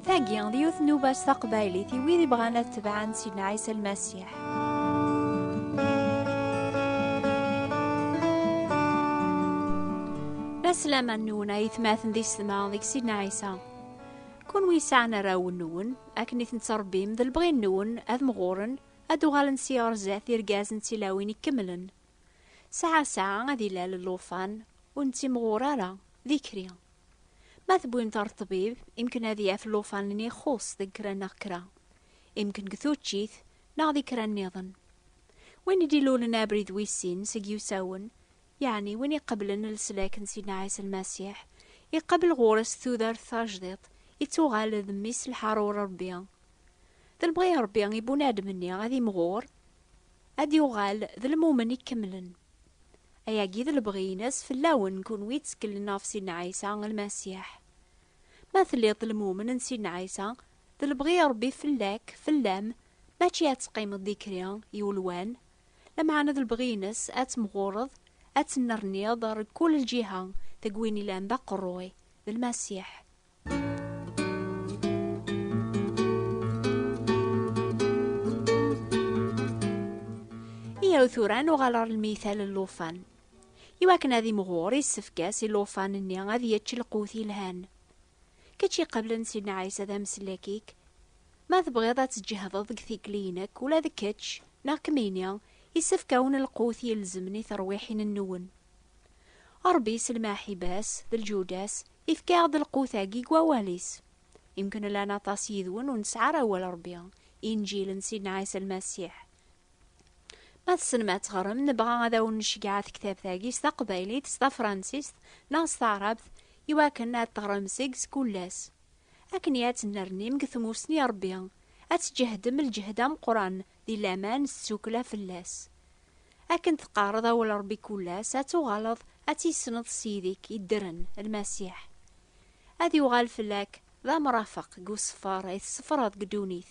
Tagi, d yiwet n ubac taqbaylit i wid ibɣan ad tebɛen si Ɛisa Lmasiḥ. Laslama-nwen ay tmaten di sedma deg Sidna Ɛisa. Kunwi yesɛan arraw-nwen, akken i ten-ttṛebbim d lebɣi-nwen, ad mɣuren, ad d-uɣalen si ɣer zdat d irgazen d tilawin ikemlen. Sɛa sɛa ad ilal llufan, ur nettimɣur ara, d ikri. Ma tewwim-t ɣer ṭṭbib, imken ad yaf llufan-nni ixuṣ deg kra neɣ kra. Imken deg tuččit, neɣ di kra nniḍen. Win i d-ilulen abrid wis sin seg yiwsawen, Yeɛni win iqeblen leslak n Sidna Ɛisa Lmasiḥ, iqabel ɣur-s tudert tajdiṭ, ittuɣal d mmi-s lḥaṛur n Ṛebbi. D lebɣi n Ṛebbi i bunadem-nni ad imɣur, ad yuɣal d lmumen ikemlen. Ayagi d lebɣi-ines fell-awen kunwi itteklen ɣef Sidna Ɛisa Lmasiḥ. Ma telliḍ d lmumen n Sidna Ɛisa, d lebɣi n Ṛebbi fell-ak, fell-am, mačči ad teqqimeḍ dikri, i ulwan, Lameɛna d lebɣi-ines ad temɣureḍ, ad tennerniḍ ɣer kul lǧiha, deg win ilan d aqerruy, d Lmasiḥ. Iyaw tura ad nuɣal ɣer lmital n llufan. Iwakken ad imɣur, issefk-as i llufan-nni ad yečč lqut yelhan. Kečč iqablen Sidna Ɛisa d ameslakik, ma tebɣiḍ ad tǧehdeḍ deg tikli-inek, ula d kečč, neɣ kemmini, isefk-awen lqut ilezmen i terwiḥin-nwen. Ṛebbi s lmaḥiba-s d lǧuda-s ifka-aɣ-d lqut-agi deg wawal-is. Imken llan aṭas yid-wen ur nesɛi ara awal Ṛebbi, Inǧil n Sidna Ɛisa Lmasiḥ, Ma tessnem ad teɣrem, nebɣa ad awen-necgeɛ tektabt-agi s taqbaylit, s tafransist neɣ s taɛrabt, iwakken ad teɣrem seg s kull ass. Akken i ad tennernim deg tmussni n Rebbi, ad tǧehdem lǧehd ameqqran di laman s tsukkla fell-as. Akken teqqareḍ awal n Rebbi kull ass, ad tuɣaleḍ ad tissneḍ s yid-ik iddren, Lmasiḥ. Ad yuɣal fell-ak d amrafeq deg useffer i tessefreḍ deg ddunit.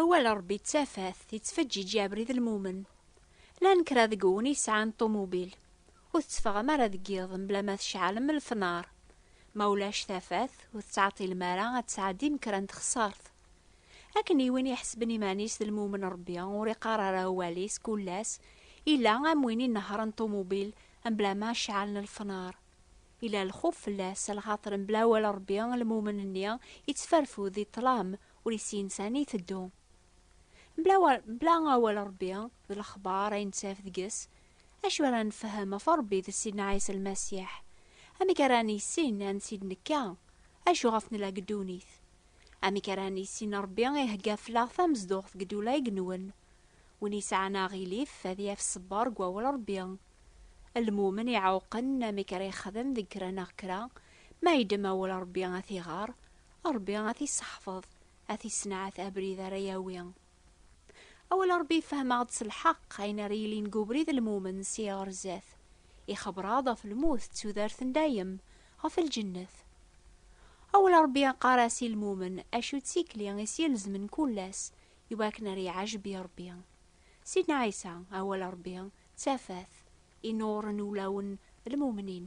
Awal n Ṛebbi d tafat yettfeǧǧiǧi abrid lmumen. Llan kra deg-wen i sɛan ṭumubil, ur tetteffɣem ara deg yiḍ mebla ma tceɛlem lefnaṛ. Ma ulac tafat, ur tettɛeṭṭilem ara ad tesɛeddim kra n texṣaṛt. Akken i win iḥesben iman-is d lmumen Ṛebbi ur iqqar ara awal-is kul ass, illa am win inehhṛen ṭumubil mebla ma ceɛlen lefnaṛ. Illa lxuf fell-as, lxaṭer mebla awal n Ṛebbi lmumen-nni yettferfud di ṭṭlam, ur issin sani iteddu. Mebla awal Ṛebbi d lexbaṛ ay nettaf deg-s, acu ara nefhem ɣef Ṛebbi d Sidna Ɛisa Lmasiḥ? Amek ara nissin ansi d-nekka? Acu ɣef nella deg ddunit? Amek ara nissin Ṛebbi ihegga fell-aɣ tamezduɣt deg ddula ay nwen? Win yesɛan aɣilif ad yaf ṣṣber deg wawal Ṛebbi. Lmumen iɛewqen amek ara yexdem deg kra neɣ kra, ma yeddem awal Ṛebbi ad t-iɣer, Ṛebbi a t-isseḥfeḍ, a t-issenɛat abrid ara yawi. Awal n Ṛebbi yefhem-aɣ-d s lḥeqq ayen ara yilin deg ubrid n lmumen seg ɣer zdat. Ixebber-aɣ-d ɣef lmut d tudert n dayem, ɣef lǧennet. Awal n Ṛebbi yeqqar-as i lmumen acu d tikli i s-ilezmen kul ass i wakken ara yeɛjeb i Ṛebbi. Sidna Ɛisa, awal n Ṛebbi, d tafat i nnuɣren ulawen d lmumnin.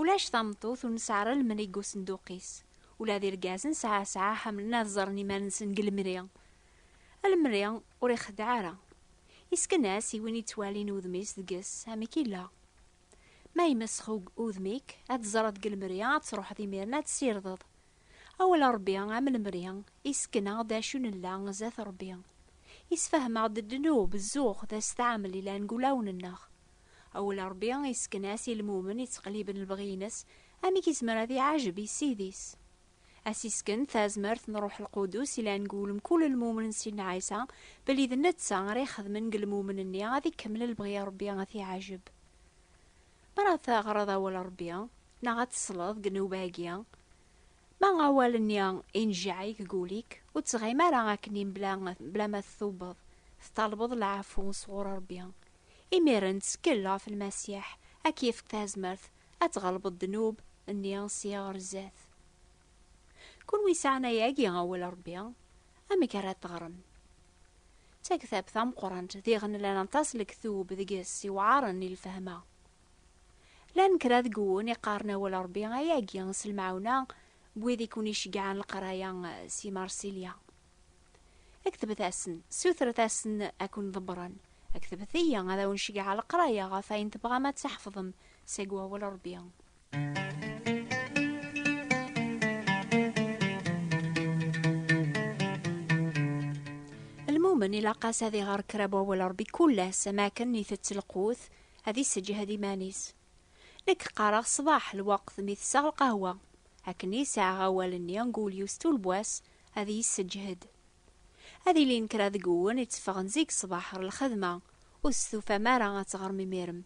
Ulac tameṭṭut ur nesɛi ara lemri deg usenduq-is. Ula d irgazen sɛa sɛa ḥemmlen ad ẓren iman-nsen deg lemri. Lemri ur ixeddeɛ ara. Yesken-as i win yettwalin udem-is deg-s amek yella. Ma yemesx udem-ik, ad teẓreḍ deg lemri, ad truḥeḍ imiren ad tessirdeḍ. Awal n Rebbi, am lemri, yessken-aɣ-d acu nella zdat Rebbi. Yessefhem-aɣ-d ddnub, zzux d assetɛamel yellan deg wulawen-nneɣ. Awal n Ṛebbi yessken-as i lmumen yettqelliben lebɣi-ines amek yezmer ad iɛajeb i Ssid-is. Ad s-yessken tazmert n Ṛṛuḥ Lqudus i langu n mkul lmumen n Sidna Ɛisa belli d netta ara ixedmen deg lmumen-nni ad ikemmel lebɣi n Ṛebbi ad t-iɛajeb. Mi ara teɣreḍ Awal n Ṛebbi neɣ ad tesleḍ deg nnuba-agi, ma awal-nni inejjeɛ-ik deg wul-ik, ur ttɣim ara akken-nni mebla ma tettubeḍ, teṭṭalbeḍ lɛafu sɣur Ṛebbi, Imiren ttkel ɣef Lmasiḥ ad k-yefk tazmert ad tɣelbeḍ ddnub nni sya ɣer zdat. Kunwi sɛan ayagi awal Rebbi, amek ara teɣrem? D taktabt tameqqrant diɣ nlan aṭas lektub deg-s iwɛaren i lfehma. Llan kra deg wun iqqaren awal Rebbi ayagi s lemɛawna n wid i ken-iceggɛen leqraya s yimersilya. Ktbet-asen, sutret-asen ad ken-ḍebbren. Ktbet-iyi ad awen-ceggɛeɣ leqraya ɣef ayen tebɣam ad tḥefḍem seg Wawal Rebbi. Lmumen ilaq-as ad iɣer kra n Wawal Rebbi kul ass am akken itett lqut, ad isseǧhed iman-is. Nekk qqareɣ ṣṣbeḥ lweqt mi tesseɣ lqahwa. Akken i sɛiɣ awal-nni n Gouliou s tulbwa-s, ad yesseǧhed. Ad ilin kra deg-wen itteffɣen zik ṣṣbeḥ ɣer lxedma, ur testufam ara ad teɣrem imir-m.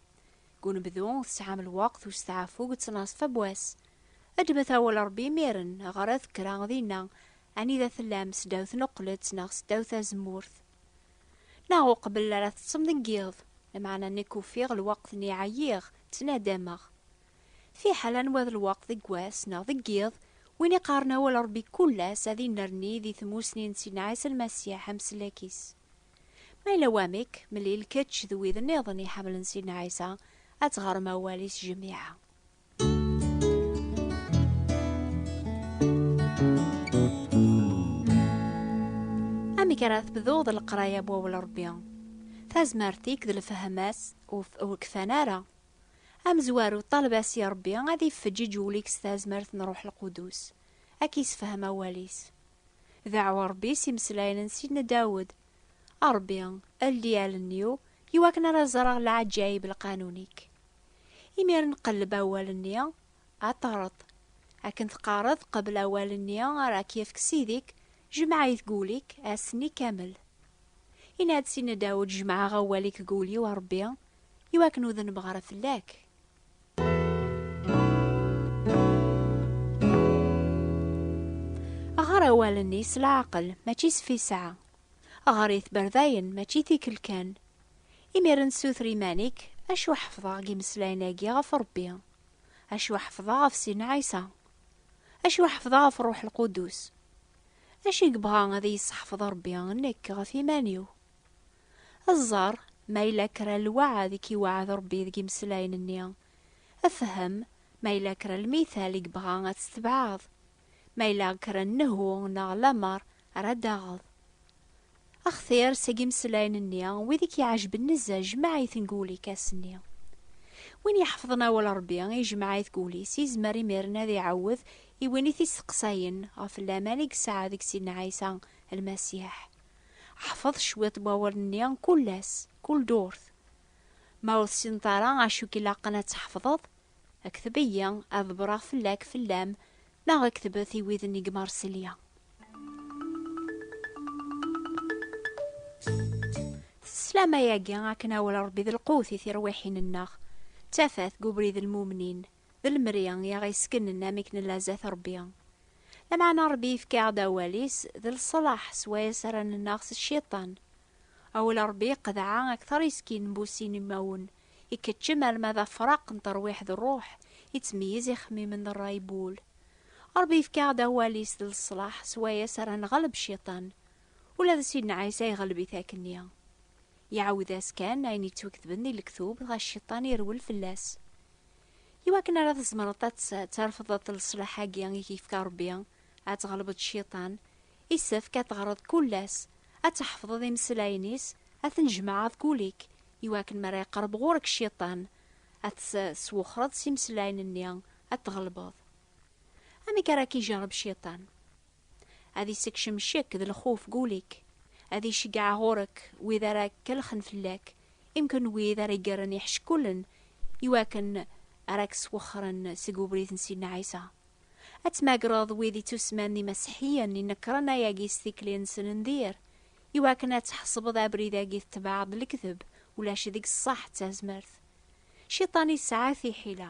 Deg unebdu, tesɛam lweqt u steɛfu deg ttnaṣfa n wass. Ddmet awal Ṛebbi imir-n, ɣret kra dinna, anida tellam, seddaw tneqqlet neɣ seddaw tazemmurt, neɣ uqbel ara teṭṭsem deg yiḍ. Lameɛna nekk ufiɣ lweqt-nni ɛyiɣ, ttnadameɣ. Fiḥel anwa d lweqt deg wass neɣ deg yiḍ, win iqqaren awal Ṛebbi kul ass ad innerni di tmusni n Sidna Ɛisa Lmasiḥ amsellek-is. Ma yella wamek, mlil kečč d wid nniḍen iḥemmlen Sidna Ɛisa ad teɣrem awal-is jmiɛa. Amek ara tebduḍ d leqraya n wawal Ṛebbi? Tazmert-ik d lefhem-as ur kfan ara. Amezwaru, ṭaleb-as i Ṛebbi ad iffeǧ iǧewwel-ik s tazmert n Ṛuḥ Lqudus, ad k-isefhem awal-is. Deɛɛu Ṛebbi s imeslayen n Sidna Dawed, A Ṛebbi, eldi allen-iw i wakken ara ẓreɣ leɛǧayeb n lqanun-ik. Imiren qelleb awal-nni, ad teṛṛeḍ. Akken teqqareḍ, qebbel awal-nni ara k-yefk Sidi-k, jmeɛ-it deg wul-ik, ass-nni kamel. Yenna-d Sidna Dawed, Jemɛeɣ awal-ik deg wul-iw, a Ṛebbi, Iwakken ur dnbeɣ ara fell-ak. Ɣer awalen-is s leɛqel, mačči s fisɛa. Ɣer i tberdayen, mačči tikl kan. Imiren suter iman-ik, acu ḥefḍeɣ deg imeslayen-agi ɣef Rebbi? Acu ḥefḍeɣ ɣef Sidna Ɛisa? Acu ḥefḍeɣ ɣef Ṛṛuḥ Lqudus? Acu i yebɣa ad iyi-sseḥfeḍ Ṛebbi nekk ɣef iman-iw? Ad ẓer ma yella kra n lweɛd i k-iweɛɛed Rebbi deg imeslayen-nni. Fhem ma yella kra n lmithal i yebɣa ad t-tebɛeḍ, ma yella kra n nnehu neɣ lamer ara d-taɣeḍ. Axtir seg imeslayen-nni wid i k-iɛejben nezzeh jmeɛ-iten deg wul-ik ass-nni. Win iḥefḍen awal n Rebbi ijmeɛ-it deg wul-is yezmer imir-nni ad iɛawed i win i t-isteqsayen ɣef laman i yesɛa deg Sidna Ɛisa Lmasiḥ, Ḥfeḍ cwiṭ n wawalen-nni kul ass, kul ddurt. Ma ur tessineḍ ara acu i k-ilaqen ad tḥefḍeḍ, kteb-iyi, ad ḍebbreɣ fell-ak, fell-am, neɣ ktebet i widen i yemmerselya. Sslam-agi akken awal n Rebbi d lqewt i tirwiḥin-nneɣ, d tafat deg ubrid n lmumnin. d lemri i aɣ-yesknen amek nella zdat Rebbi. Lameɛna Rebbi yefka-aɣ-d awal-is d leṣlaḥ s wayes ara nennaɣ s cciṭan. Awal n Rebbi qeḍɛa akteṛ yeskin n bussin imawen, ikeččem alma d afraq n terwiḥ d ṛṛuḥ, ittmeyyiz ixemmimen d ṛṛay n wul. Rebbi yefka-aɣ-d awal-is d leṣlaḥ s wayes ara neɣleb cciṭan. Ula d Sidna Ɛisa iɣleb-it akkenni. Iɛawed-as kan ayen yettweketben di lektub dɣa cciṭan irwel fell-as. I wakken ara tzemreḍ ad terfdeḍ leṣlaḥ-agi i k-yefka Rebbi, ad tɣelbeḍ Cciṭan, isefk ad teɣreḍ kul ass, ad tḥefḍeḍ imeslayen-is, ad ten-jmeɛeḍ kul-ik, i wakken mi ara iqerreb ɣur-k Cciṭan, ad t-teswexreḍ s imeslayen-nni, ad t-tɣelbeḍ. Amek ara k-ijerreb Cciṭan? Ad issekcem ccek d lxuf deg wul-ik, ad iceggeɛ ɣur-k wid ara kellxen fell-ak, imekn n wid ara igren iḥeckulen iwakken ara k-swexren seg ubrid n Sidna Ɛisa. Ad tmagreḍ wid ittusemman d imaseḥiyen inekkren ayagi s tikli-nsen n dir, iwakken ad tḥesbeḍ abrid-agi tetbeɛeḍ lekdeb, ulac deg-s ṣṣeḥ d tazmert. Ciṭan yesɛa tiḥila,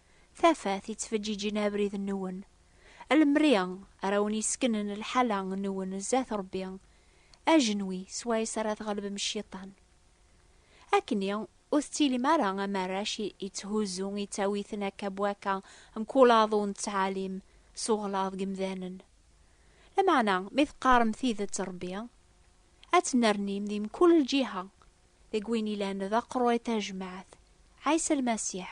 Tafat yettfeǧǧiǧen abrid-nwen. A lemri ara wen-yesseknen lḥala nwen zdat Rebbi, ajenwi s wayes ara tɣelbem cciṭan. Akkenni ur tettilim ara am arrac yetthuzzu ittawiten akka bwakka mkul aḍu n ttɛalim s uɣlaḍ deg yemdanen. Lameɛna mi teqqarem tidet Rebbi, ad tennernim di mkul lǧiha, deg win ilan d aqru i tajmaɛt, Ɛisa Lmasiḥ.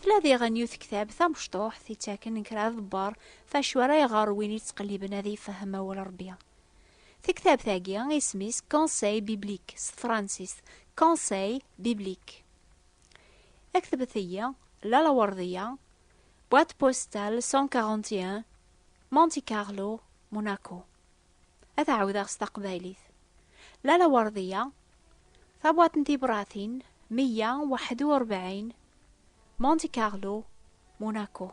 Tla diɣen yiwet ktab tamecṭuḥt ittaken kra aḍebbar f acu ara iɣer win yettqelliben ad ifhem awal Ṛebbi. Taktabt-agi isem-is Conseil biblique s tefransist, Conseil biblique. Aktbet-iyi, Lalla Werdiya, boîte postale 141, Monte Carlo, Monaco. ad ɛawdeɣ s taqbaylit. Lala Werdiya, Tabwaṭ n tibratin, meyya waḥed u rebɛin, Monte Carlo, Monaco.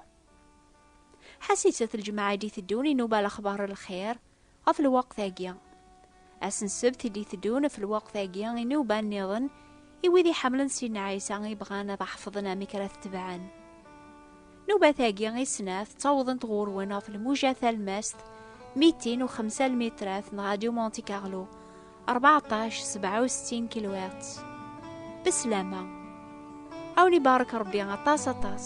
Ḥasit-t lǧemɛa i d-iteddun inuba lexbar n lxir ɣef lweqt-agi. Ass n ssebt i d-iteddun ɣef lweqt-agi inuba nniḍen i wid iḥemmlen Sidna Ɛisa i bɣan ad ḥefḍen amek ara t-tebɛen. Nubat-agi i snat ttawḍent ɣur-wen ɣef lmuja talmast 205 lmitrat n Radio Monte Carlo 14 67 kilowatts. Beslama. Awen ibarek Rebbi aṭas aṭas.